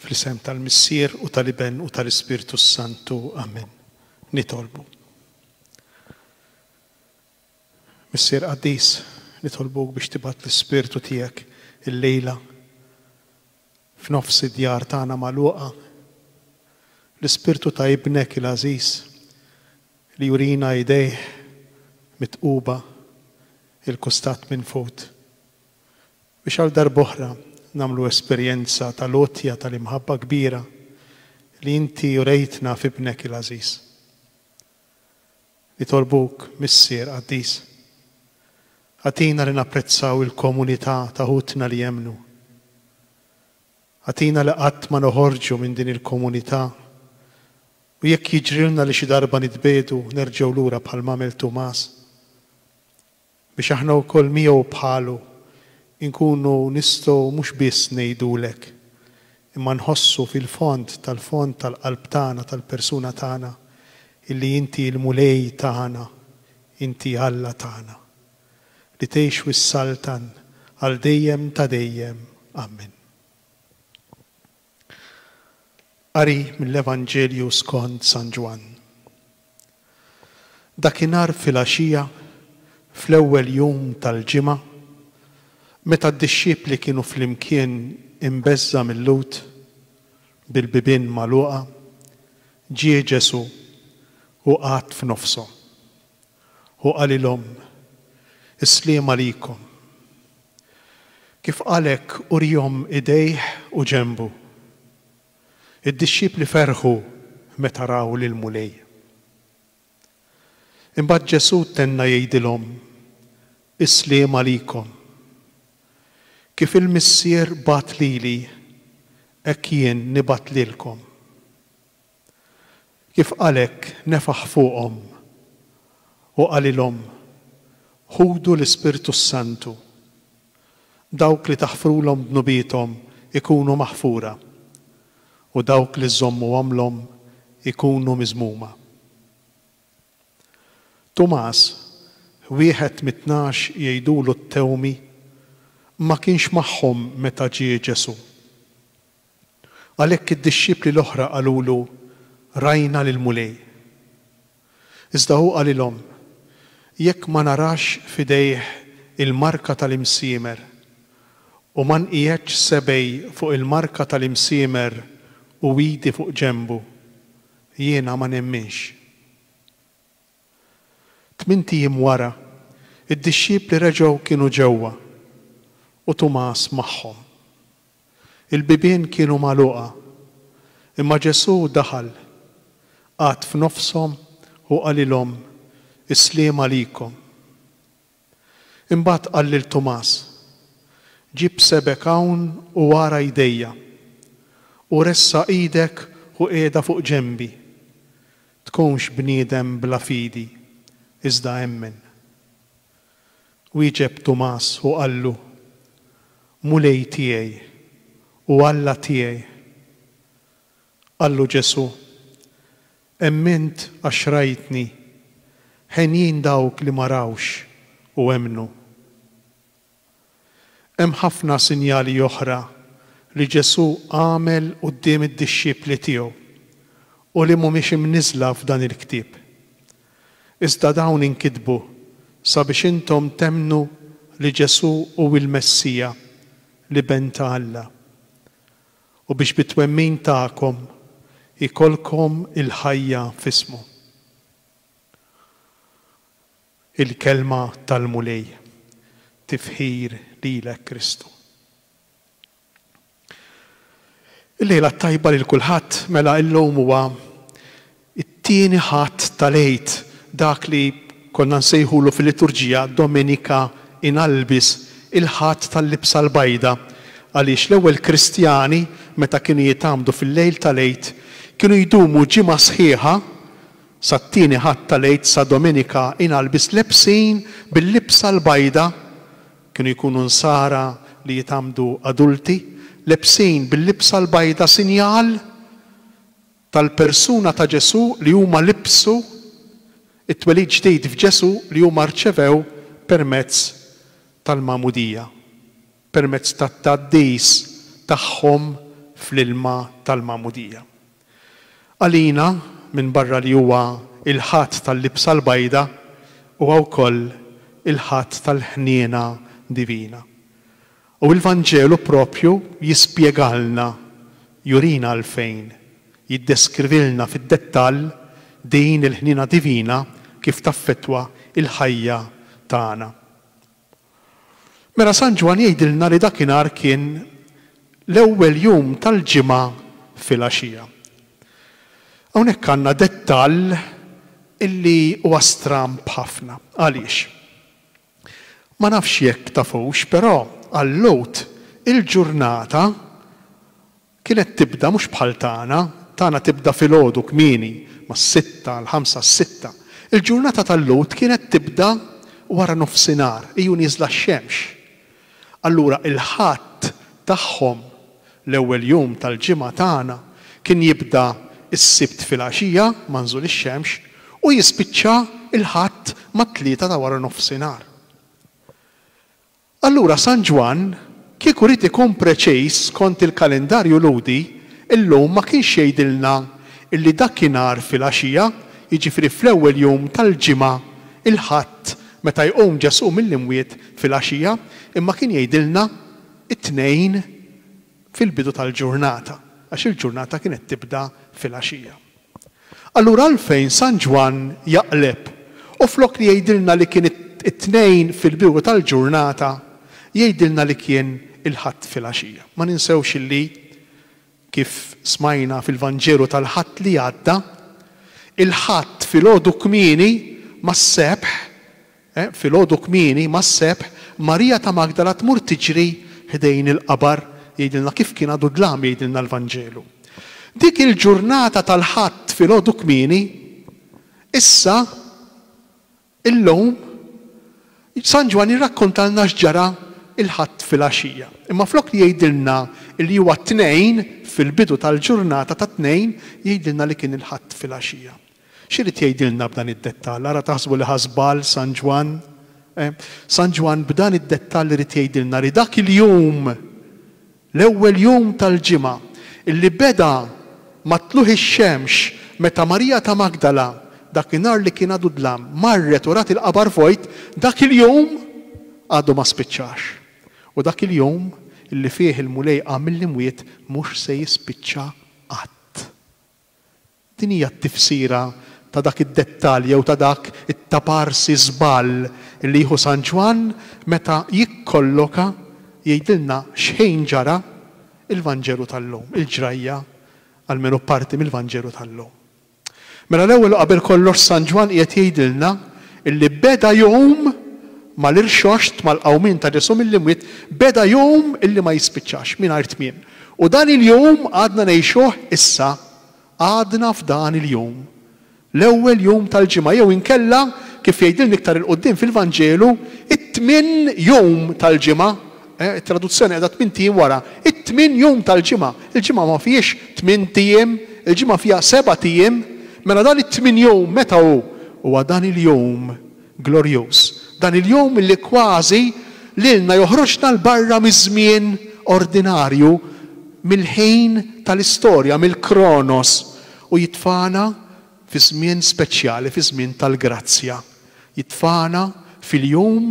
Fl-isem tal-Missier u tal-Iben u tal-Ispirtu s-Santu. Amen. Nitolbu. Missier Qaddis, nitolbuk biex tibat l-Ispirtu tijek il-lejla F'nofs id-djar tagħna magħluqa, l-ispirtu ta' Ibnek il-għażiż li jurina idejh mitquba il-kustat minn fut, biex għal darb'oħra nagħmlu esperjenza tal-għotja tal-imħabba kbira li Inti urejtna f'Ibnek il-għażiż. Nitolbuk, Missier qaddis, agħtina li napprezzaw il-komunità ta' ħutna li jemmnu. Agħtina li qatt ma noħorġu minn din il-komunità u jekk jiġrilna li xi darba nitbiegħdu, nerġgħu lura bħalma għamel Tumas. Biex aħna wkoll miegħu u bħalu nkunu nistgħu mhux biss ngħidulek, imma nħossu fil-fond tal-fond tal-qalb tagħna, tal-persuna tagħna, illi inti l-Mulej tagħna, inti Alla tagħna, li tgħix u ssaltan għal dejjem ta' dejjem. Amen. Qari mill-Evanġelju skond San Ġwann. Dakinhar filgħaxija, fl-ewwel jum tal-ġimgħa, meta d-dixxipli kienu flimkien imbeżża' mil-Lhud, bil-bibien magħluqa, ġie Ġesù u qagħad f'nofshom. Hu qalilhom, Is-sliem għalikom. Kif qal hekk uriehom idejh u ġenbu. Id-dixxipli ferħu meta raw lill-Mulej. Imbagħad Ġesù tenna jgħidilhom, Is-sliem għalikom. Kif il-Missier bagħat lili, hekk jien nibgħat lilkom. Kif qal hekk nefaħ fuqhom u qalilhom, Ħudu l-Ispirtu s-Santu. Dawk li taħfrulhom dnubiethom ikunu maħfura, u dawk li żżommuhomlhom ikunu miżmuma. Tumas, wieħed mit-tnax jgħidulu t-Tewmi, ma kienx magħhom meta ġie Ġesù. Għalhekk id-dixxipli l-oħra qalulu, Rajna lill-Mulej. Iżda hu qalilhom, Jekk ma narax f'idejh il-marka tal-imsiemer, u ma nqiegħedx sebgħi fuq il-marka tal-imsiemer u idi fuq ġenbu, jiena ma nemminx. Tmint ijiem wara, id-dixxipli reġgħu kienu ġewwa, u Tumas magħhom. Il-bibien kienu magħluqa, imma Ġesù daħal, qagħad f'nofshom u qalilhom, Is-sliem għalikom. Imbagħad qal lil Tumas, Ġib sebgħek hawn u ara jdejja, u ressa' idek u qiegħda fuq ġenbi. Tkunx bniedem bla fidi, iżda emmen. Wieġeb Tumas u qallu, Mulej tiegħi u Alla tiegħi! Qallu Ġesù, Emmint għax rajtni. Henjin dawk li ma rawx u emmnu. Hemm ħafna sinjali oħra li Ġesù għamel quddiem id-dixxipli tiegħu u li mhumiex imniżżla f'dan il-ktieb. Iżda dawn inkitbu sabiex intom temmnu li Ġesù hu l-Messija, l-Iben ta' Alla. u biex bit-twemmin tagħkom ikollkom il-ħajja f'ismu. Il-Kelma tal-Mulej. Tifħir lilek Kristu. Il-lejla t-tajba lil kulħadd, mela illum huwa It-Tieni Ħadd tal-Għid, dak li konna nsejħulu fil-liturġija Domenica in Albis, il-Ħadd tal-Libsa l-Bajda, għaliex l-ewwel Kristjani, meta kienu jitgħammdu fil-lejl tal-Għid, kienu jdumu ġimgħa sħiħa, sat-Tieni Ħadd tal-Għid, sa Domenica in Albis, lebsin bil-libsa l-bajda, kienu jkunu Nsara li jitgħammdu adulti, lebsin bil-libsa l-bajda, sinjal, tal-persuna ta' Ġesù li huma libbsu, it-twelid ġdid f'Ġesù li huma rċevew permezz tal-magħmudija, permezz tat-tgħaddis tagħhom fl-ilma tal-magħmudija. Għalina, minbarra li huwa il-Ħadd tal-Libsa l-Bajda, huwa wkoll il-Ħadd tal-Ħniena Divina. U l-Vanġelu proprju jispjegalna, jurina għalfejn, jiddeskrivilna fid-dettall din il-ħniena divina kif taffettwa l-ħajja tagħna. Mela San Ġwann jgħidilna li dakinhar kien l-ewwel jum tal-ġimgħa filgħaxija. Hawnhekk għandna dettall illi huwa stramb ħafna. Għaliex? Ma nafx jekk tafux, però għal Lhud il-ġurnata kienet tibda mhux bħal tagħna, tagħna tibda filgħodu kmieni, mas-sitta, l-ħamsa, s-sitta. Il-ġurnata tal-Lhud kienet tibda waranofsinhar, iju nieżla x-xemx. Allura il-Ħadd tagħhom, l-ewwel jum tal-ġimgħa tagħna, kien jibda s-Sibt filgħaxija ma' nżul ix-xemx u jispiċċa l-Ħadd mat-tlieta ta' wara nofsinhar. Allura San Ġwann kieku ried ikun preċiż skont il-kalendarju Lhudi llum ma kienx jgħidilna illi dakinhar filgħaxija, jiġifieri fl-ewwel jum tal-ġimgħa, il-Ħadd, meta jqum Ġesù mill-imwiet, filgħaxija imma kien jgħidilna t-Tnejn fil-bidu tal-ġurnata għax il-ġurnata kienet tibda filgħaxija. Allura għalfejn San Ġwann jaqleb u flok li jgħidilna li kien it-Tnejn fil-bidu tal-ġurnata jgħidilna li kien il-Ħadd filgħaxija? Ma ninsewx li Kif smajna fil-Vanġelu tal-Ħadd li għadda, il-Ħadd filgħodu kmieni mas-Sebħ, filgħodu kmieni mas-Sebħ, Marija ta' Magdala tmur tiġri ħdejn il-qabar, jgħidilna kif kien għadu dlam jgħidilna l-Vanġelu. Dik il-ġurnata tal-Ħadd filgħodu kmieni, issa Illum, San Ġwann jirrakkontalna x'ġara l-Ħadd filgħaxija. Imma flok li jgħidilna li huwa t-Tnejn, fil-bidu tal-ġurnata tat-Tnejn, jgħidilna li kien il-Ħadd filgħaxija. X'irid jgħidilna b'dan id-dettall? Ara taħsbu li ħa żball San Ġwann? Eh, San Ġwann b'dan id-dettall irid jgħidilna li dak il-jum, L-ewwel jum tal-ġimgħa, li beda ma' tlugħ ix-xemx, meta Marija ta' Magdala, dak in-nhar li kien għadu dlam, marret u rat il-qabar vojt, dak il-jum għadu ma spiċċax. U dak il-jum li fih il-Mulej qam mill-imwiet mhux se jispiċċa qatt. Din hija t-tifsira ta' dak id-dettall jew ta' dak it-taparsi żball li jieħu San Ġwann meta jikkolloka, jgħidilna x'ħin ġara, il-Vanġelu tal-lum, il-ġrajja, almenu parti mill-Vanġelu tal-lum. Mela l-ewwel u qabel kollox San Ġwann qiegħed jgħidilna li beda jum mal-irxoxt, mal-qawmien ta' Ġesù mill-imwiet, beda jum li ma jispiċċax, mingħajr tmiem. U dan il-jum għadna ngħixuh issa. għadna f'dan il-jum, l-ewwel jum tal-ġimgħa, jew inkella, kif jgħidilna iktar 'il quddiem fil-Vanġelu, it-tmien jum tal-ġimgħa. It-traduzzjoni qiegħda tmint ijiem wara. It-tmien jum tal-ġimgħa. Il-ġimgħa ma fihiex tmint ijiem, il-ġimgħa fiha sebat ijiem. Mela dan it-tmien jum meta hu? Huwa dan il-jum Glorjuż, dan il-jum li kważi lilna joħroġna 'l barra miż-żmien ordinarju, mill-ħin tal-istorja, mill-kronos, u jitfagħna fi żmien speċjali, fi żmien tal-grazzja. Jitfagħna fil-jum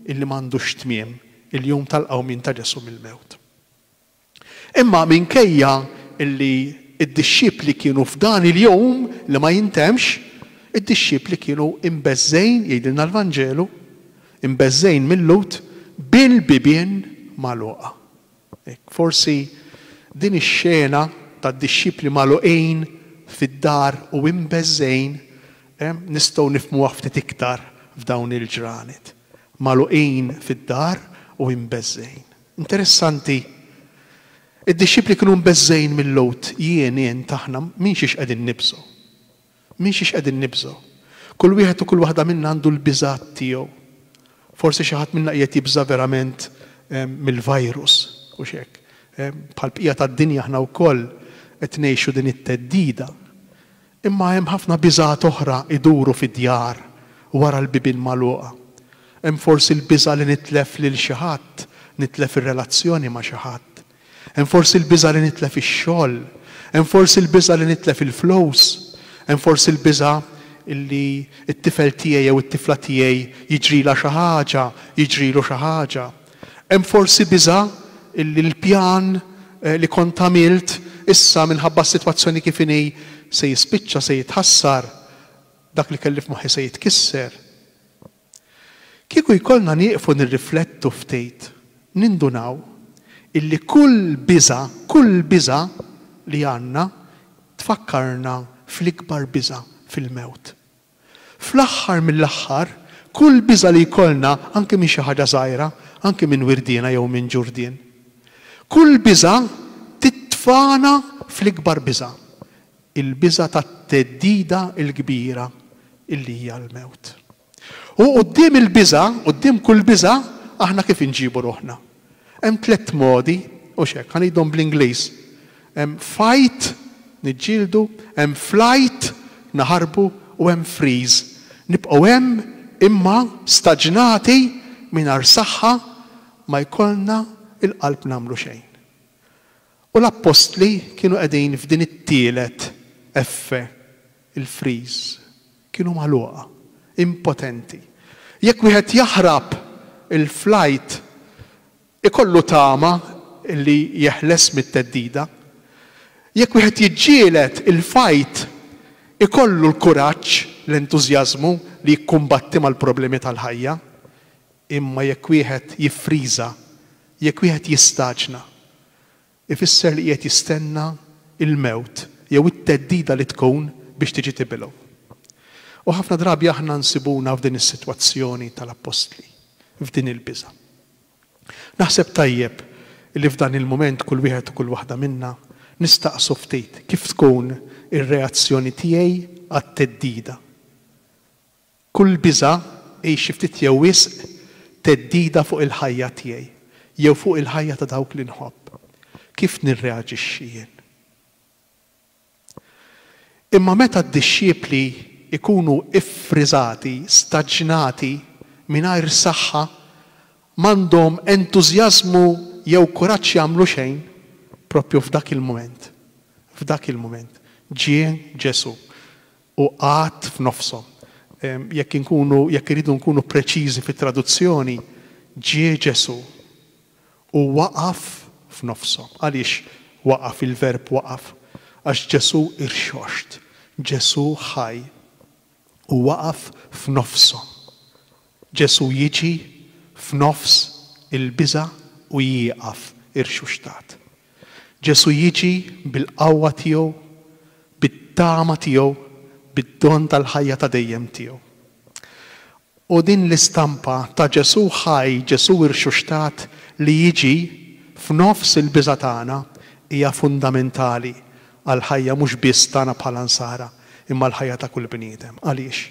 li m'għandux tmiem, il-jum tal-qawmien ta' Ġesù mill-mewt. Imma minkejja li d-dixxipli kienu f'dan il-jum li ma jintemmx, id-dixxipli kienu imbeżżgħin, jgħidilna l-Vanġelu, imbeżżgħin mil-Lhud bil-bibien magħluqa. Forsi din ix-xena tad-dixxipli magħluqin fid-dar u imbeżżgħin nistgħu nifhmuha ftit iktar f'dawn il-ġranet. Magħluqin fid-dar u imbeżżgħin. Interessanti. Id-dixxipli kienu mbeżżgħin mill-għud. Jien, int, aħna, minn xiex qegħdin nibżgħu? Minn xiex qegħdin nibżgħu? Kull wieħed u kull waħda minna għandu l-biżgħat tiegħu. Forsi xi ħadd minna qiegħed jibża' verament mill-virus, hux hekk? Bħall-bqija tad-dinja aħna wkoll qed ngħixu din it-theddida. Imma hemm ħafna biżgħat oħra jduru fid-djar wara l-bibien magħluqa. Hemm forsi l-biża' li nitlef lil xi ħadd, nitlef ir-relazzjoni ma' xi ħadd. Hemm forsi l-biża' li nitlef ix-xogħol. Hemm forsi l-biża' li nitlef il-flus. Hemm forsi l-biża' li t-tifel tiegħi jew it-tifla tiegħi jiġrilha xi ħaġa, jiġrilu xi ħaġa. Hemm forsi biża' illi l-pjan li kont għamilt issa minħabba s-sitwazzjoni kif inhi se jispiċċa se jitħassar, dak li kelli f'moħħi se jitkisser. Kieku jkollna nieqfu nirriflettu ftit, nindunaw illi kull biża', kull biża' li għandna tfakkarna fl-ikbar biża', fil-mewt. Fl-aħħar mill-aħħar, kull biża' li jkollna, anki minn xi ħaġa żgħira, anki minn wirdiena jew minn ġurdien, kull biża' titfagħna fl-ikbar biża', il-biża' tat-theddida l-kbira li hija l-mewt. U quddiem il-biża', quddiem kull biża', aħna kif inġibu ruħna? Hemm tlett modi, hux hekk, ħa ngħidhom bl-Ingliż. Hemm fight, niġġieldu, hemm flight, naħarbu, u hemm freeze, nibqgħu hemm imma staġnati mingħajr saħħa ma jkollna l-qalb nagħmlu xejn. U l-appostli kienu qegħdin f'din it-tielet F, il-freeze. Kienu magħluqa. Impotenti. Jekk wieħed jaħrab il-flajt ikollu tama li jeħles mit-theddida. Jekk wieħed jiġġieled il-fajt ikollu l-kuraġġ, l-entużjażmu li jikkumbatti mal-problemi tal-ħajja. Imma jekk wieħed jiffriża, jekk wieħed jistaġna, ifisser li qiegħed jistenna l-mewt jew it-theddida li tkun biex tiġi tibilgħu. U ħafna drabi aħna nsibuna f'din is-sitwazzjoni tal-appostli, f'din il-biża'. Naħseb tajjeb li f'dan il-mument kull wieħed u kull waħda minna nistaqsu ftit kif tkun ir-reazzjoni tiegħi għat-theddida. Kull biża' hi xi ftit jew wisq theddida fuq il-ħajja tiegħi jew fuq il-ħajja ta' dawk li nħobb. Kif nirreaġixxi jien? Imma meta d-dixxipli jkunu ffriżati, staġnati, mingħajr saħħa, m'għandhom entużjażmu jew kuraġġ jagħmlu xejn, proprju f'dak il-mument, f'dak il-mument, ġie Ġesù. u qgħad f'nofshom. Jekk inkunu, jekk irridu nkunu preċiżi fit-traduzzjoni, ġie Ġesù u waqaf f'nofshom. Għaliex waqaf, il-verb waqaf? Għax Ġesù irxoxt, Ġesù ħaj u waqaf f'nofshom. Ġesù jiġi f'nofs il-biża' u jieqaf irxuxtat. Ġesù jiġi bil-qawwa tiegħu, bit-tama tiegħu, bid-don tal-ħajja ta' dejjem tiegħu. U din l-istampa ta' Ġesù ħaj, Ġesù irxuxtat li jiġi f'nofs il-biża' tagħna hija fundamentali għall-ħajja mhux biss tagħna bħala Nsara, imma l-ħajja ta' kull bniedem. Għaliex?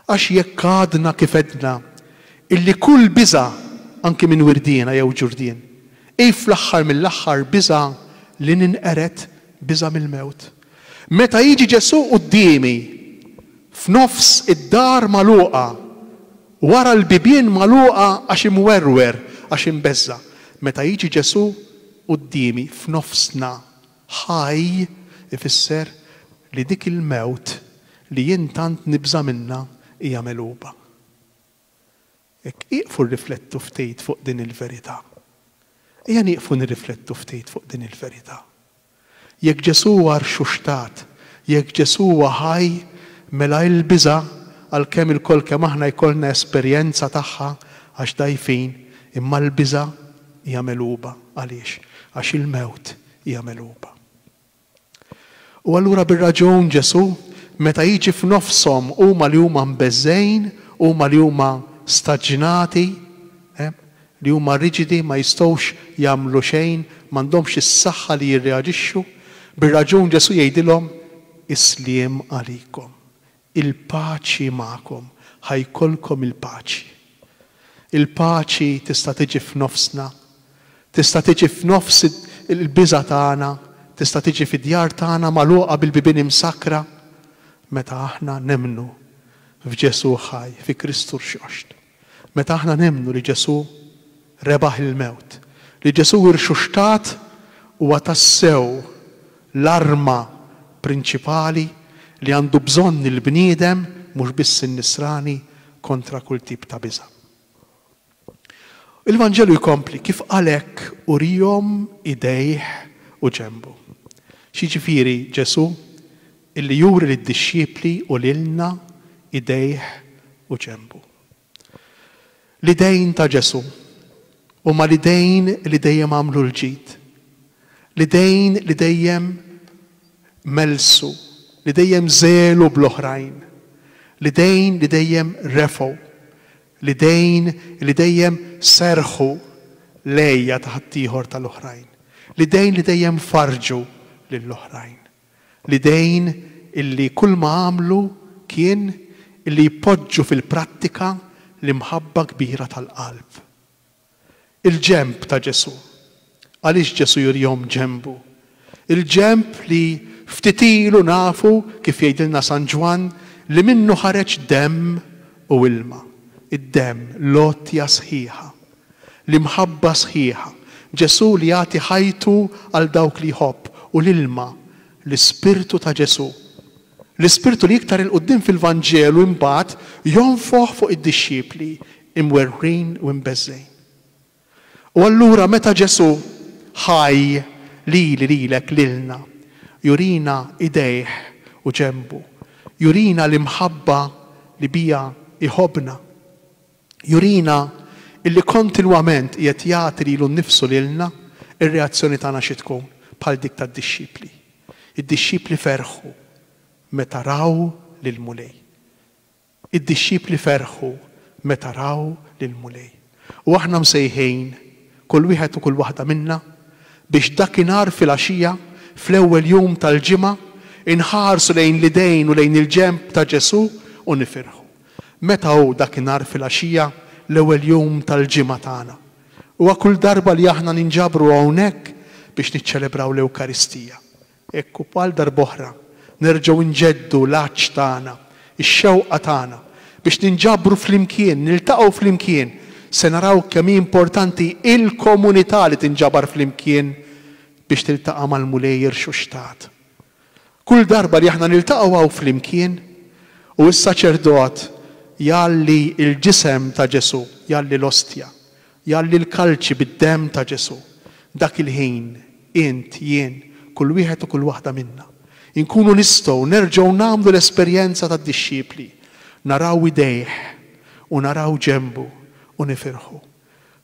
Għax jekk għadna kif għedna illi kull biża' anki minn wirdiena jew ġurdien, hi fl-aħħar mill-aħħar biża' li ninqered, biża' mill-mewt. Meta jiġi Ġesù quddiemi f'nofs id-dar magħluqa, wara l-bibien magħluqa għax imwerwer, għax imbeżża', meta jiġi Ġesù quddiemi f'nofsna Ħaj ifisser li dik il-mewt li jien tant nibża' minnha hija megħluba. Hekk ieqfu rriflettu ftit fuq din il-verità. Ejja nieqfu nirriflettu ftit fuq din il-verità. Jekk Ġesù huwa rxuxtat, jekk Ġesù huwa ħaj, mela il-biża', għalkemm ilkoll kemm aħna jkollna esperjenza tagħha għax dgħajfin, imma l-biża' hija megħluba. Għaliex? Għax il-mewt hija megħluba. U allura bir-raġun Ġesù, meta jiġi f'nofshom huma li huma mbeżżgħin, huma li huma staġnati, li huma riġidi ma jistgħux jagħmlu xejn, m'għandhomx is-saħħa li jirreaġixxu, bir-raġun Ġesù jgħidilhom, Is-sliem għalikom. Il-paċi magħkom, ħa jkollkom il-paċi. Il-paċi tista' tiġi f'nofsna, tista' tiġi f'nofs il-biża' tagħna, tista' tiġi fid-djar tagħna magħluqa bil-bibien imsakkra, meta aħna nemmnu f'Ġesù ħaj, fi Kristu rxoxt. Meta aħna nemmnu li Ġesù rebaħ il-mewt, li Ġesù irxuxtat huwa tassew l-arma prinċipali li għandu bżonn il-bniedem, mhux biss in-Nisrani, kontra kull tip ta' biża'. Il-Vanġelu jkompli, Kif qal hekk uriehom idejh u ġenbu. X'jiġifieri Ġesù Illi juri lid-dixxipli u lilna idejh u ġenbu. L-idejn ta' Ġesù huma l-idejn li dejjem għamlu l-ġid, l-idejn li dejjem mellsu, li dejjem żegħlu bl-oħrajn, l-idejn li dejjem refgħu, l-idejn li dejjem serrħu l-għeja ta' ħaddieħor tal-oħrajn, l-idejn li dejjem farrġu lill-oħrajn. L-idejn illi kull ma għamlu kien illi jpoġġu fil-prattika l-imħabba kbira tal-qalb. Il-ġenb ta' Ġesù. Għaliex Ġesù jurihom ġenbu? Il-ġenb li ftit ilu nafu, kif jgħidilna San Ġwann, li minnu ħareġ demm u ilma. Id-demm, l-għotja sħiħa. L-imħabba sħiħa, Ġesù li jagħti ħajtu għal dawk li jħobb, u l-ilma, l-Ispirtu ta' Ġesù. L-Ispirtu li iktar 'il quddiem fil-Vanġelu imbagħad jonfoħ fuq id-dixxipli imwerwrin u imbeżżgħin. U allura meta Ġesù, ħaj, lili, lilek, lilna, jurina idejh u ġenbu, jurina l-imħabba li biha jħobbna. Jurina illi kontinwament qiegħed jagħti lilu nnifsu lilna r-reazzjoni tagħna xi tkun bħal dik tad-dixxipli. Id-dixxipli ferħu meta raw lill-Mulej. Id-dixxipli ferħu meta raw lill-Mulej. U aħna msejħin, kull wieħed u kull waħda minna, biex dakinhar filgħaxija, fl-ewwel jum tal-ġimgħa, inħarsu lejn l-idejn u lejn il-ġenb ta' Ġesù u nifirħu. Meta hu dakinhar filgħaxija, l-ewwel jum tal-ġimgħa tagħna? Huwa kull darba li aħna ninġabru hawnhekk biex niċċelebraw l-Ewkaristija. Hekk u għal darb'oħra nerġgħu nġeddu l-għatx tagħna, ix-xewqa tagħna biex ninġabru flimkien, niltaqgħu flimkien, se naraw kemm hi importanti il-komunità li tinġabar flimkien biex tiltaqa' mal-Mulej irxuxtat. Kull darba li aħna niltaqgħu hawn flimkien u s-saċerdot jgħalli l-ġisem ta' Ġesù, jgħalli l-ostja, jgħalli l-kalċi bid-demm ta' Ġesù, dak il-ħin int, jien, kull wieħed u kull waħda minna, inkunu nistgħu nerġgħu nagħmlu l-esperjenza tad-dixxipli, naraw idejh u naraw ġenbu u nifirħu.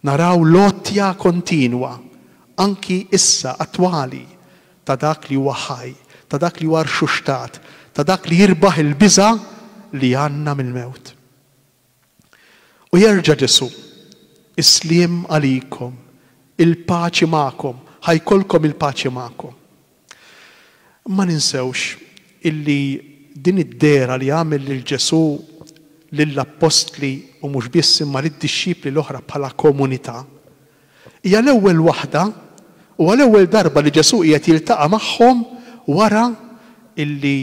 Naraw l-għotja kontinwa, anki issa attwali, ta' dak li huwa ħaj, ta' dak li huwa rxuxtat, ta' dak li jirbaħ il-biża' li għandna mill-mewt. U jerġa' Ġesù, Is-sliem għalikom, il-paċi magħkom, ħa jkollkom il-paċi magħkom. Ma ninsewx illi din id-dehra li għamel lil Ġesù lill-appostli u mhux biss imma lid-dixxipli l-oħra bħala komunità, hija l-ewwel waħda u għal-ewwel darba li Ġesù qiegħed jiltaqa' magħhom wara illi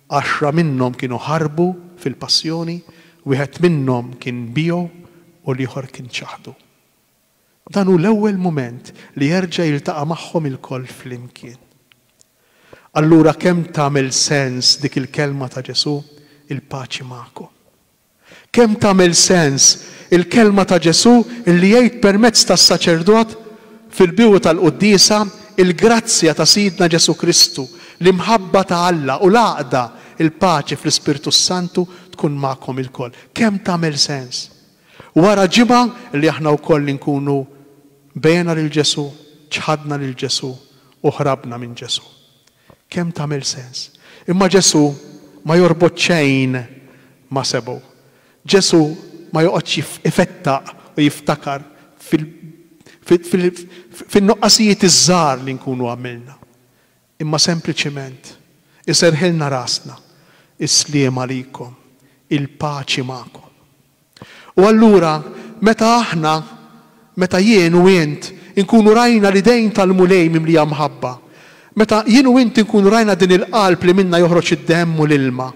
għaxra minnhom kienu ħarbu fil-passjoni, wieħed minnhom kien biegħu u l-ieħor kien ċaħdu. Dan hu l-ewwel mument li jerġa' jiltaqa' magħhom ilkoll flimkien. Allura kemm tagħmel sens dik il-kelma ta' Ġesù, il-paċi magħkom. Kemm tagħmel sens il-kelma ta' Ġesù li jgħid permezz tas-saċerdot fil-bidu tal-quddiesa, Il-grazzja ta' Sidna Ġesù Kristu, l-imħabba ta' Alla u l-għaqda, il-paċi fl-Ispirtu s-Santu tkun magħkom ilkoll. Kemm tagħmel sens! Wara ġimgħa li aħna wkoll inkunu bejgħna lil Ġesù, ċħadna lil Ġesù u ħrabna minn Ġesù. Kemm tagħmel sens! Imma Ġesù ma jorbot xejn ma' sebgħu. Ġesù ma joqgħodx ifettaq u jiftakar fil-nuqqasijiet iż-żgħar li nkunu għamilna. Imma sempliċiment iserrħilna rasna, Is-sliem għalikom, il-paċi magħkom. U allura meta aħna, meta jien u int inkunu rajna l-idejn tal-Mulej mimlija mħabba, meta jien u int inkunu rajna din il-qalb li minnha joħroġ id-demm u l-ilma,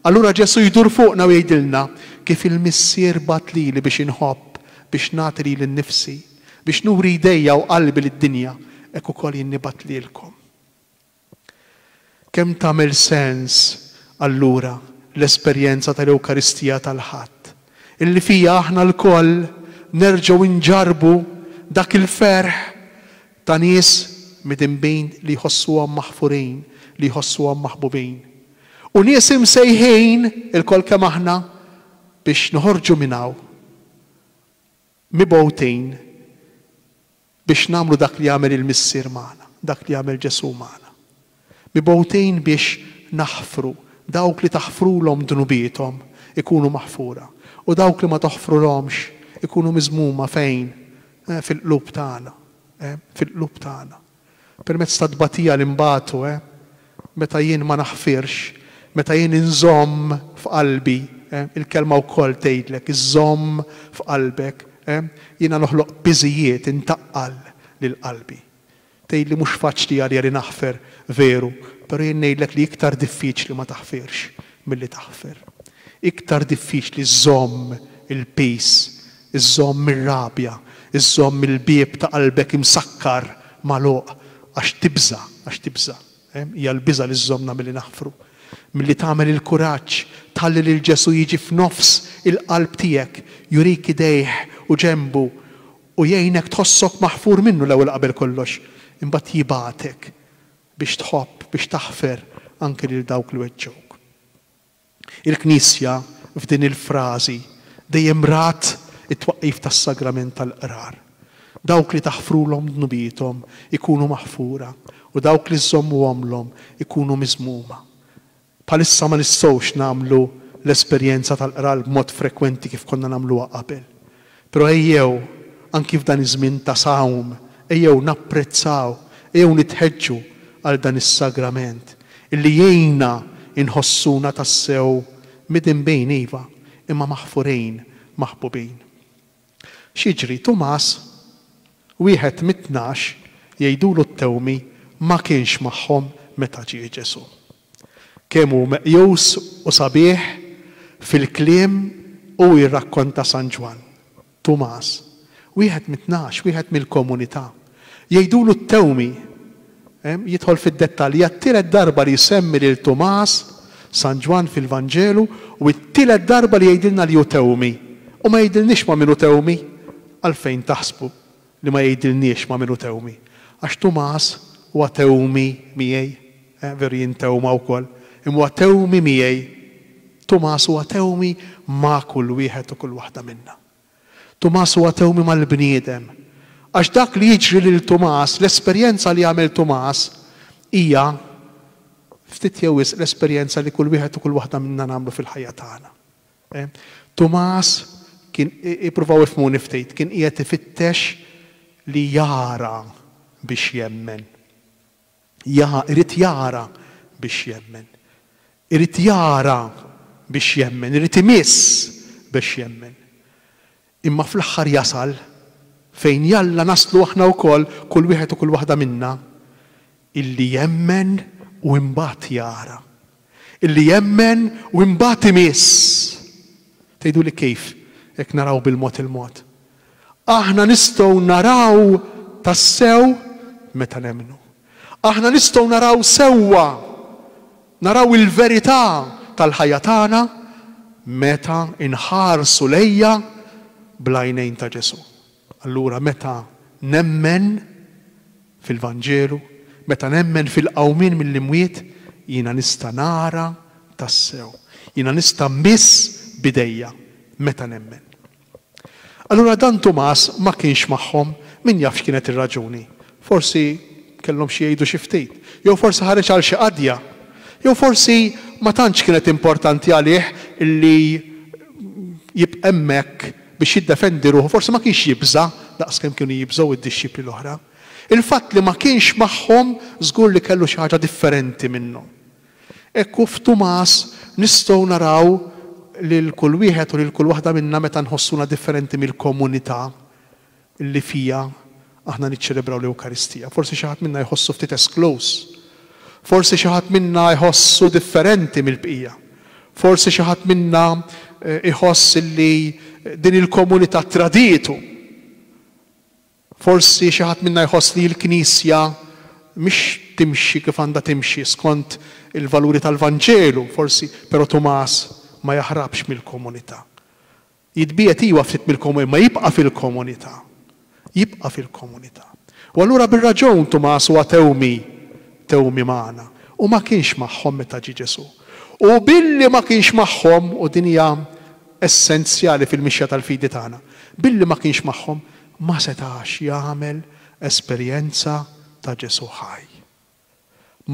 allura Ġesù jdur fuqna u jgħidilna, Kif il-Missier bagħat lili biex inħobb, biex nagħti lili nnifsi, Biex nuri jdejja u qalbi lid-dinja, hekk ukoll jien nibgħat lilkom. Kemm tagħmel sens, allura, l-esperjenza tal-Ewkaristija tal-Ħadd, illi fiha aħna lkoll nerġgħu nġarrbu dak il-ferħ ta' nies midinbin li jħossuhom maħfurin, li jħossuhom maħbubin, u nies imsejħin, ilkoll kemm aħna, biex noħorġu minn hawn. Mibgħutin biex nagħmlu dak li għamel il-Missier magħna, dak li għamel Ġesù magħna. Mibgħutin biex naħfru, dawk li taħfrulhom dnubiethom ikunu maħfura, u dawk li ma toħfrulhomx ikunu miżmuma fejn? Fil-qlub tagħna, fil-qlub tagħna. permezz tat-tbatija li nbatu, eh, meta jien ma naħfirx, meta jien inżomm f'qalbi, eh, il-Kelma wkoll tgħidlek, iżżomm f'qalbek, eh, jiena noħloq piżijiet, intaqqal lil qalbi. Tgħidli mhux faċli għalija li naħfer, veru, però jien ngħidlek li iktar diffiċli ma taħfirx milli taħfer. Iktar diffiċli żżomm il-piż Iżżomm ir-rabja, iżżomm il-bieb ta' qalbek imsakkar magħluq għax tibża', għax tibża'. Hija l-biża' li żżommna milli naħfru. Milli tagħmel il-kuraġġ tħalli lil Ġesù jiġi f'nofs il-qalb tiegħek, jurik idejh u ġenbu u jgħinek tħossok maħfur minnu l-ewwel qabel kollox. Imbagħad jibgħatek biex tħobb, biex taħfer anki lil dawk li weġġgħuk. Il-Knisja, f'din il-frażi, dejjem rat it-twaqqif tas-Sagrament tal-Qrar. Dawk li taħfrulhom dnubiethom ikunu maħfura u dawk li żżommuhomlhom ikunu miżmuma. Bħalissa ma nistgħux nagħmlu l-esperjenza tal-Qrar b'mod frekwenti kif konna nagħmluha qabel. Però ejjew, anki f'dan iż-żmien ta' sawm, ejjew napprezzaw, ejjew nitħeġġu għal dan is-sagrament illi jgħinna inħossuna tassew midinbin, iva, imma maħfurin, maħbubin. X'jiġri? Tumas, wieħed mit-tnax, jgħidulu t-tewmi, ma kienx magħhom meta ġie Ġesù. Kemm hu meqjus u sabiħ fil-kliem u jirrakkonta San Ġwann. Tumas, wieħed mit-tnax, wieħed mill-komunità. Jgħidulu t-Tewmi. Jidħol fid-dettalji. Hija t-tielet darba li jsemmi lil Tumas San Ġwann fil-Vanġelu u t-tielet darba li jgħidilna li hu Tewmi. U ma jgħidilniex ma' min hu Tewmi? Għalfejn taħsbu? li ma jgħidilniex ma' min hu Tewmi. Għax Tumas huwa Tewmi miegħi, eh, veru jien Tewma wkoll, imma huwa Tewmi miegħi. Tumas huwa Tewmi ma' kull wieħed u kull waħda minna. Tumas huwa Tewmi mal-bniedem. Għax dak li jiġri lil Tumas, l-esperjenza li jagħmel Tumas, hija ftit jew wisq l-esperjenza li kull wieħed u kull waħda minna nagħmlu fil-ħajja tagħna. E, Tumas kien, ippruvaw ifhmuni ftit, kien qiegħed ifittex li jara biex jemmen. Ja, irid jara biex jemmen. Irid jara biex jemmen, irid imiss biex jemmen. Imma fl-aħħar jasal, fejn jalla naslu aħna wkoll, kull wieħed u kull waħda minna, illi jemmen u imbagħad jara. Illi jemmen u imbagħad imiss. Tgħiduli kif, jekk naraw bil-mod il-mod? Aħna nistgħu naraw tassew meta nemmnu. Aħna nistgħu naraw sewwa Naraw il-verità tal-ħajja tagħna meta nħarsu lejha bl-għajnejn ta' Ġesù. Allura meta nemmen fil-Vanġelu, meta nemmen fil-qawmien mill-imwiet, jiena nista' nara tassew. Jiena nista' mmiss b'idejja meta nemmen. Allura dan Tumas ma kienx magħhom, min jaf x'kienet ir-raġuni. Forsi kellhom xi jgħidu xi ftit. Jew forsi ħareġ għal xi qadja. Jew forsi ma tantx kienet importanti għalih li jibqa' hemmhekk biex jiddefendi ruħu, forsi ma kienx jibża' daqs kemm kienu jibżgħu d-dixxipli l-oħra. Il-fatt li ma kienx magħhom żgur li kellu xi ħaġa differenti minnhom. Hekk hu f'Tumas nistgħu naraw lil kull wieħed u lil kull waħda minna meta nħossuna differenti mill-komunità li fiha aħna niċċelebraw l-Ewkaristija. Forsi xi ħadd minna jħossu ftit eskluż. Forsi xi ħadd minna jħossu differenti mill-bqija. Forsi xi ħadd minna jħoss li din il-komunità tradietu. Forsi xi ħadd minna jħoss li l-Knisja mhix timxi kif għandha timxi skont il-valuri tal-Vanġelu, forsi, però Tumas ma jaħrabx mill-komunità. Jitbiegħed, iwa, ftit mill-komunità, imma jibqa' fil-komunità. Jibqa' fil-komunità. U allura bir-raġun Tumas huwa tewmi, tewmi magħna. U ma kienx magħhom meta ġie Ġesù. U billi ma kienx magħhom, u din hija essenzjali fil-mixja tal-fidi tagħna, billi ma kienx magħhom, ma setax jagħmel esperjenza ta' Ġesù ħaj.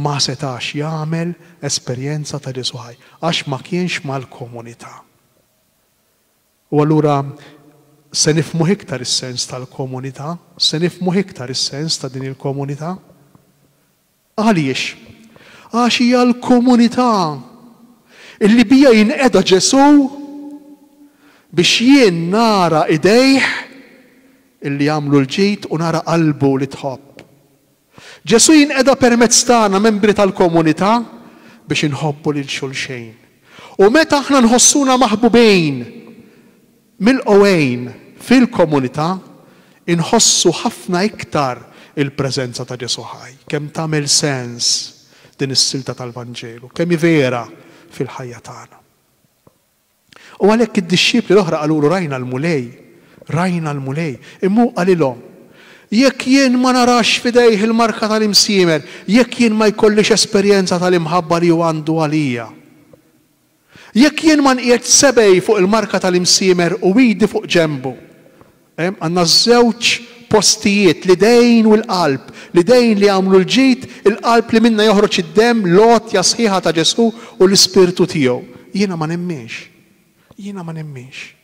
Ma setax jagħmel esperjenza ta' Ġesù ħaj għax ma kienx mal-komunità. U allura se nifhmuh iktar is-sens tal-komunità, se nifhmuh iktar is-sens ta' din il-komunità. Għaliex? Għax hija l-komunità li biha jinqeda Ġesù biex jien nara idejh li jagħmlu l-ġid u nara qalbu li tħobb. Ġesù jinqeda permezz tagħna membri tal-komunità biex inħobbu lil xulxejn. U meta aħna nħossuna maħbubin, Milqugħin fil-komunità, inħossu ħafna iktar il-preżenza ta' Ġesù ħaj. Kemm tagħmel sens din is-silta tal-Vanġelu! Kemm hi vera fil-ħajja tagħna! U għalhekk id-dixxipli l-oħra qalulu, Rajna l-Mulej! Rajna l-Mulej! Imma hu qalilhom, Jekk jien ma narax f'idejh il-marka tal-imsiemer, jekk jien ma jkollix esperjenza tal-imħabba li hu għandu għalija, Jekk jien ma nqiegħdx sebgħi fuq il-marka tal-imsiemer u idi fuq ġenbu. Hemm, għandna żewġ postijiet, l-idejn u l-qalb, l-idejn li jagħmlu l-ġid, il-qalb li minnha joħroġ id-demm, l-għotja sħiħa ta' Ġesù u l-Ispirtu tiegħu. Jiena ma nemminx. Jiena ma nemminx.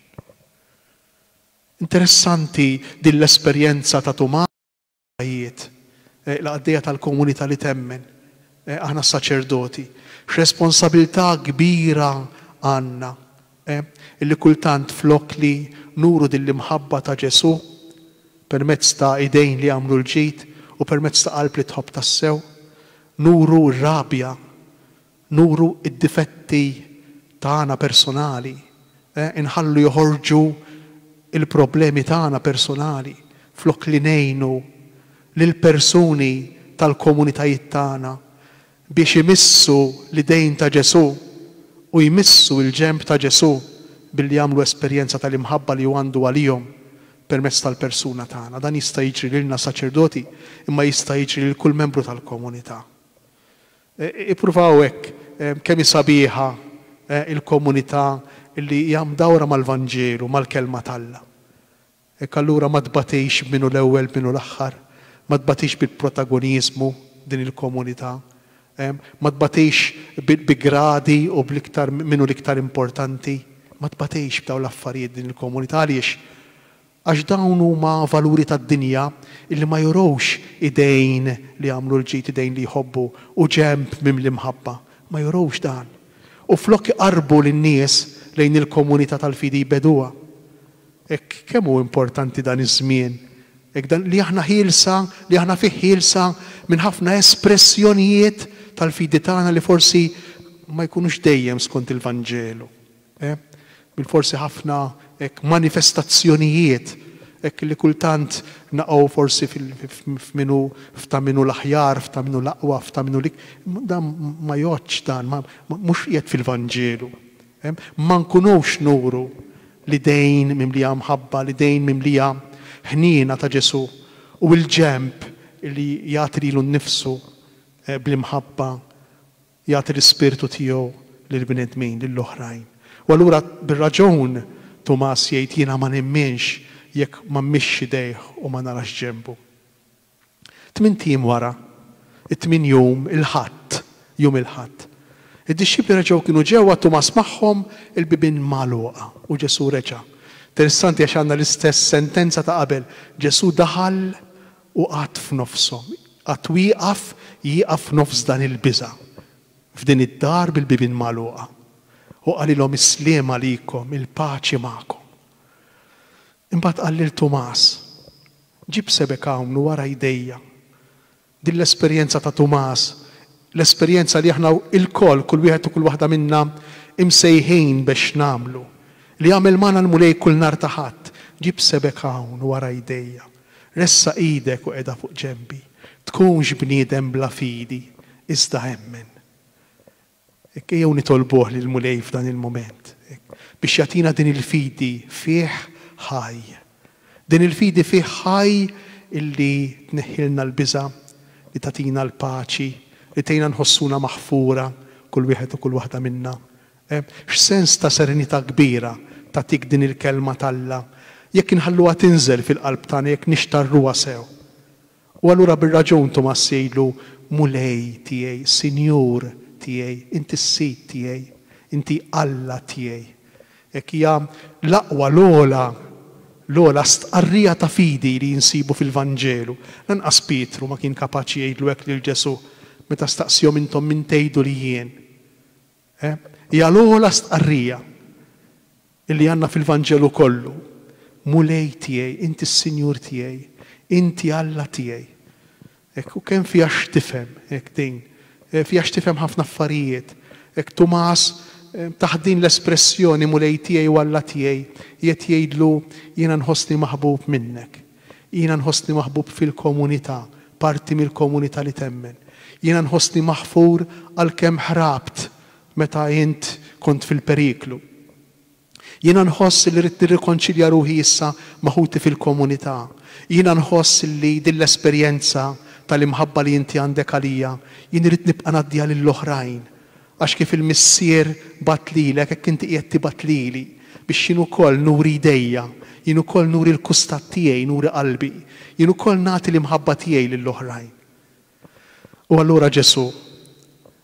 Interessanti din l-esperjenza ta' Tumas. Ħajjiet. Il-qaddejja tal-komunità li temmen, aħna s-saċerdoti, x'responsabilità kbira għandna, illi kultant flok li nuru din l-imħabba ta' Ġesù permezz ta' idejn li jagħmlu l-ġid u permezz ta' qalb li tħobb tassew, nuru r-rabja Nuru d-difetti tagħna personali, inħallu joħorġu l-problemi tagħna personali flok li ngħinu lill-persuni tal-komunitajiet tagħna biex imissu l-idejn ta' Ġesù u jmissu l-ġenb ta' Ġesù billi jagħmlu esperjenza tal-imħabba li hu għandu għalihom permezz tal-persuna tagħna. Dan jista' jiġri lilna saċerdoti imma jista' jiġri lil kull membru tal-komunità. Ippruvaw hekk kemm hi sabiħa l-komunità li hija mdawra mal-Vanġelu, mal-Kelma t'Alla. Hekk allura ma tbatix b'min hu l-ewwel b'min hu l-aħħar, ma tbatix bil-protagoniżmu din il-komunità, ma tbatix bi gradi u bl-iktar min hu l-iktar importanti, ma tbatix b'dawn l-affarijiet din il-komunità. Għaliex? Għax dawn huma valuri tad-dinja illi ma jurux idejn li jagħmlu l-ġid, idejn li jħobbu, u ġenb mimli mħabba. Ma jurux dan. U flok iqarrbu lin-nies lejn il-komunità tal-fidi jbeduha. Hekk kemm hu importanti dan iż-żmien, hekk dan li aħna ħielsa, li aħna fih ħielsa minn ħafna espressjonijiet tal-fidi tagħna li forsi ma jkunux dejjem skont il-Vanġelu. Eh, bil-forsi ħafna hekk manifestazzjonijiet hekk li kultant naqgħu forsi f'minu f'ta' minu l-aħjar, f'ta' minu l-aqwa, f'ta' minu lik. Dan ma jgħoddx dan, mhux qiegħed fil-Vanġelu. Eh, ma nkunux nuru l-idejn mimlija mħabba, l-idejn mimlija ħniena ta' Ġesù u l-ġenb li jagħti lilu nnifsu eh, bl-imħabba Jagħti l-ispirtu tiegħu lill-bnedmin, lill-oħrajn. U allura bir-raġun Tumas jgħid jiena ma nemminx jekk ma mmissx idejh u ma narax ġenbu. Tmint ijiem wara, it-tmien jum, il-Ħadd, jum il-Ħadd, id-dixxipli reġgħu kienu ġewwa, Tumas magħhom, il-bibien magħluqa, u Ġesù reġa'. Interessanti għax għandna l-istess sentenza ta' qabel, Ġesù daħal U qagħad f'nofshom. Qagħad wieqaf, jieqaf f'nofs dan il-biża', f'din id-dar bil-bibien magħluqa. U qalilhom, Is-sliem għalikom, il-paċi magħkom. Imbagħad qal lil Tumas, Ġib sebgħek hawn u wara jdejja. Din l-esperjenza ta' Tumas, l-esperjenza li aħna ilkoll, kull wieħed u kull waħda minna, imsejħin bex nagħmlu, li jagħmel magħna l-Mulej kull nhar ta' Ħadd, Ġib sebgħek hawn u wara jdejja. Ressaq idek u qegħda fuq ġenbi. Tkunx bniedem bla fidi, iżda emmen. Hekk ejjew nitolbuh lill-Mulej f'dan il-mument, hekk, biex jagħtina din il-fidi fih ħaj. Din il-fidi fih ħaj illi tneħħilna l-biża', li tagħtina l-paċi, li tgħinna nħossuna maħfura kull wieħed u kull waħda minna. E, x'sens ta' serenità kbira tagħtik din il-Kelma t'Alla jekk inħalluha tinżel fil-qalb tagħna, jekk nixtarruha sew! U allura bir-raġun Tumass jgħidlu, Mulej tiegħi, Sinjur tiegħi, Inti s-Sid tiegħi, Inti Alla tiegħi. Hekk hija l-aqwa, l-ogħla, l-ogħla stqarrija ta' fidi li nsibu fil-Vanġelu. Lanqas Pietru ma kien kapaċi jgħidlu hekk lil Ġesù meta staqsihom, Intom min tgħidu li jien? Hija l-ogħla stqarrija li għandna fil-Vanġelu kollu, Mulej tiegħi, Inti s-Sinjur tiegħi, Inti Alla tiegħi. Hekk, u kemm fiha x'tifhem hekk din. Fiha x'tifhem ħafna affarijiet. Hekk Tumas taħt din l-espressjoni Mulej tiegħi u Alla tiegħi qiegħed jgħidlu jiena nħossni maħbub minnek. Jiena nħossni maħbub fil-komunità, parti mill-komunità li temmen. Jiena nħossni maħfur għalkemm ħrabt meta int kont fil-periklu. Jiena nħoss li rrid nirrikonċilja ruħi issa ma' ħuti fil-komunità. Jiena nħoss li din l-esperjenza tal-imħabba li inti għandek għalija, jien irrid nibqa' ngħaddiha lill-oħrajn. Għax kif il-Missier bagħat lilek, hekk inti qiegħed tibgħat lili, biex jien ukoll nuri idejja, jien ukoll nuri l-kustat tiegħi, nuri qalbi, jien ukoll nagħti l-imħabba tiegħi lil oħrajn. U allura Ġesù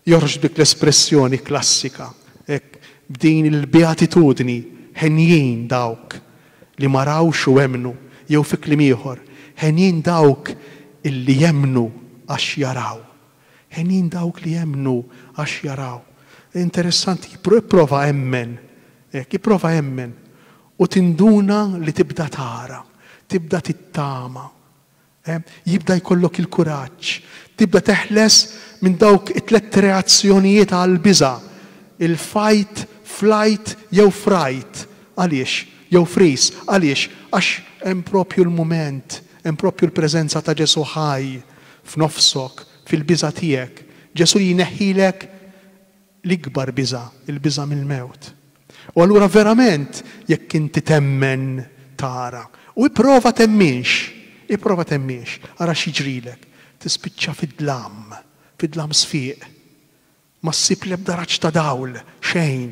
joħroġ b'dik l-espressjoni klassika, hekk, b'din il-beatitudni, Henjin dawk li ma rawx u emmnu, jew fi kliem ieħor, Henjin dawk illi jemmnu għax jaraw. Henin dawk li jemmnu għax jaraw. Interessanti, ipprova emmen, hekk, ipprova emmen u tinduna li tibda tara, tibda tittama, jibda jkollok il-kuraġġ, tibda teħles minn dawk it-tlett reazzjonijiet għall-biża', il-fight, flight jew fright. Għaliex? Jew freeze. Għaliex? Għax hemm proprju l-mument, hemm proprju l-preżenza ta' Ġesù ħaj. f'nofsok, fil-biża' tiegħek, Ġesù li jneħħilek l-ikbar biża', il-biża' mill-mewt. U allura verament jekk inti temmen tara. U ipprova temminx, ipprova temminx, ara x'jiġrilek. Tispiċċa fid-dlam, fid-dlam sfiq. Ma ssib l-ebda raġġ ta' dawl, xejn.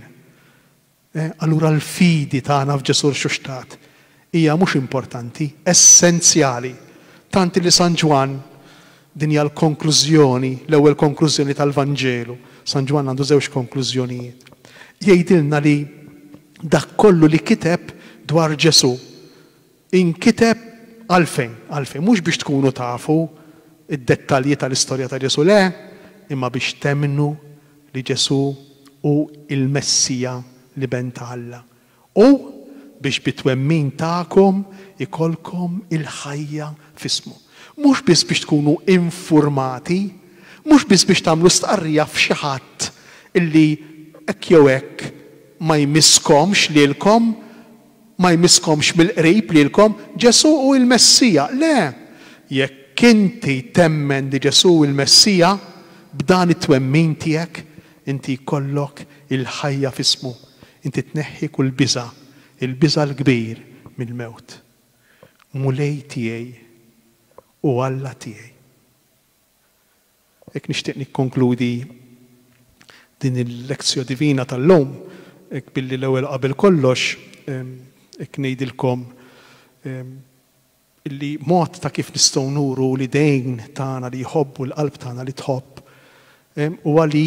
Allura l-fidi tagħna f'Ġesù rxuxtat hija mhux importanti, essenzjali. Tant li San Ġwann, din hija l-konklużjoni, l-ewwel konklużjoni tal-Vanġelu, San Ġwann għandu żewġ konklużjonijiet, jgħidilna li dak kollu li kiteb dwar Ġesù Inkiteb għalfejn? Għalfejn? Mhux biex tkunu tafu d-dettalji tal-istorja ta' Ġesù, le, imma biex temmnu li Ġesù hu l-Messija, l-Iben ta' Alla, u biex bit-twemmin tagħkom ikollkom il-ħajja f'ismu. Mhux biss biex tkunu infurmati, mhux biss biex tagħmlu stqarrija f'xi ħadd li hekk jew hekk ma jmisskomx lilkom, Ma jmisskomx mill-qrib lilkom Ġesù hu l-Messija? Le! Jekk inti temmen li Ġesù hu l-Messija, b'dan it-twemmin tiegħek, inti jkollok il-ħajja f'ismu. Inti tneħħi kull biża', il-biża' l-kbir mill-mewt. Mulej tiegħi u Alla tiegħi. Hekk nixtieq nikkonkludi din il-Lectio Divina tal-lum, hekk billi l-ewwel qabel kollox hekk ngħidilkom illi mod ta' kif nistgħu nuru l-idejn tagħna li jħobbu, l-qalb tagħna li tħobb, huwa li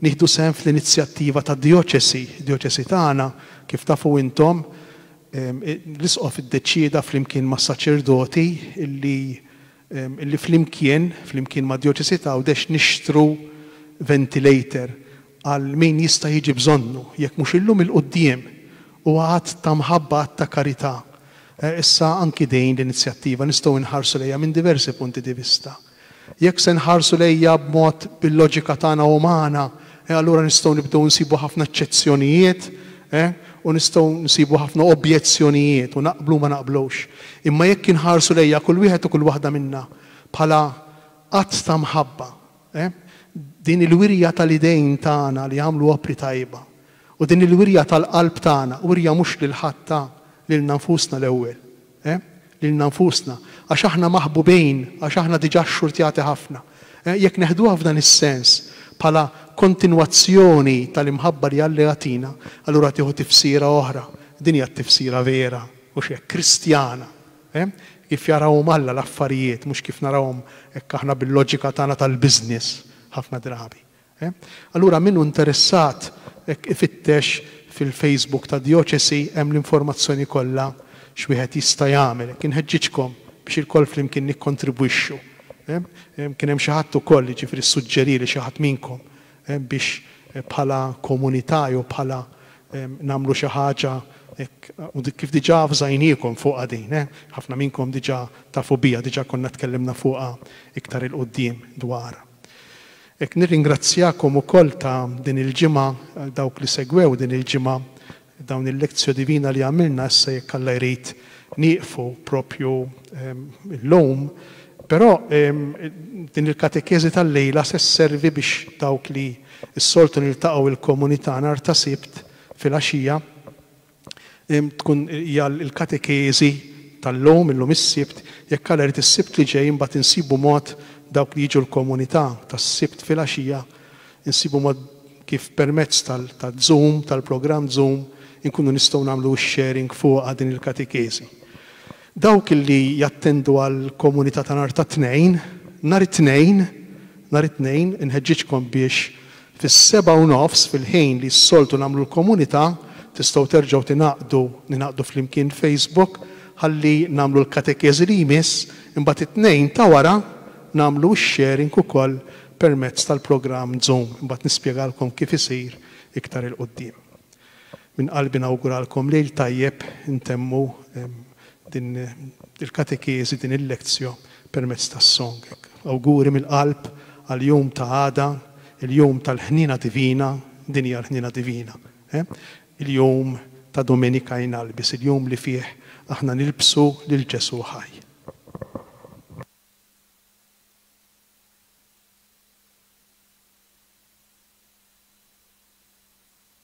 nieħdu sehem fl-inizjattiva tad-djoċesi. Id-djoċesi tagħna, kif tafu intom, l-Isqof iddeċieda flimkien mas-saċerdoti illi Illi flimkien, flimkien mad-Djoċesi ta' Għawdex nixtru ventilator għal min jista' jiġi bżonnu, jekk mhux illum il-quddiem. Huwa att ta' mħabba, att ta' karità. Issa anki din l-inizjattiva nistgħu inħarsu lejha minn diversi punti di vista. Jekk se nħarsu lejha b'mod bil-loġika tagħna umana, Eh, allura nistgħu nibdew nsibu ħafna eċċezzjonijiet, eh, u nistgħu nsibu ħafna objezzjonijiet u naqblu ma naqblux. Imma jekk inħarsu lejja kull wieħed u kull waħda minna bħala att ta' mħabba, eh, din il-wirja tal-idejn tagħna li jagħmlu opri tajba u din il-wirja tal-qalb tagħna, wirja mhux lil ħadd ta, lilna nfusna l-ewwel. eh, lilna nfusna, għax aħna maħbubin, għax aħna diġà xxurtjati ħafna. Eh, jekk neħduha f'dan is-sens, bħala kontinwazzjoni tal-imħabba li Alla jagħtina, allura tieħu tifsira oħra. Din hija t-tifsira vera, mhux hekk, Kristjana. Eh, kif jarawhom Alla l-affarijiet, mhux kif narawhom hekk aħna bil-loġika tagħna tal-business ħafna drabi. He? Allura min hu interessat hekk ifittex fil-Facebook tad-Djoċesi hemm l-informazzjoni kollha x'wieħed jista' jagħmel. Hekk inħeġġiġkom biex ilkoll flimkien nikkontribwixxu. He? Kien hemm xi ħadd ukoll, jiġifieri ssuġġerieli xi ħadd minnkom, he, biex bħala komunità jew bħala nagħmlu xi ħaġa hekk u dik kif diġà avżajniekom fuqha din, he? Ħafna minnkom diġà tafu biha, diġà konna tkellimna fuqha iktar 'il quddiem dwarha. Hekk nirringrazzjakom ukoll ta' din il-ġimgħa, għal dawk li segwew din il-ġimgħa dawn il-Lectio Divina li għamilna, issa jekk Alla jrid nieqfu proprju llum, però din il-katekeżi tal-lejla se sservi biex dawk li s-soltu niltaqgħu il-komunità nhar ta' Sibt filgħaxija, Tkun hija l-katekeżi tal-lum, illum is-Sibt, jekk Alla jrid is-Sibt li ġej imbagħad insibu mod dawk li jiġu l-komunità tas-Sibt filgħaxija, insibu mod kif permezz tal-Zoom, tal-programm Zoom, inkunu nistgħu nagħmlu x-sharing fuqha din il-katekeżi. Dawk li jattendu għall-Komunità ta' nhar ta' Tnejn, nhar it-Tnejn, nhar it-Tnejn, inħeġġiġkom biex fis-sebgħa u nofs, fil-ħin li s-soltu nagħmlu l-Komunità, tistgħu terġgħu tingħaqdu, ningħaqdu flimkien Facebook, ħalli nagħmlu l-Katekeżi li jmiss, imbagħad it-Tnejn ta' wara nagħmlu x-sharing ukoll permezz tal-programm Zoom, imbagħad nispjegalkom kif isir iktar 'il quddiem. Minn qalbi nawguralkom Lejl tajjeb intemmu din il-katekeżi, din il-lectio permezz tas-song. Awguri mill-qalb għall-jum ta' għada, il-jum tal-ħniena divina, din hija l-ħniena divina, eh? il-jum ta' Domenica in Albis, il-jum li fih aħna nilbsu lil Ġesù ħaj.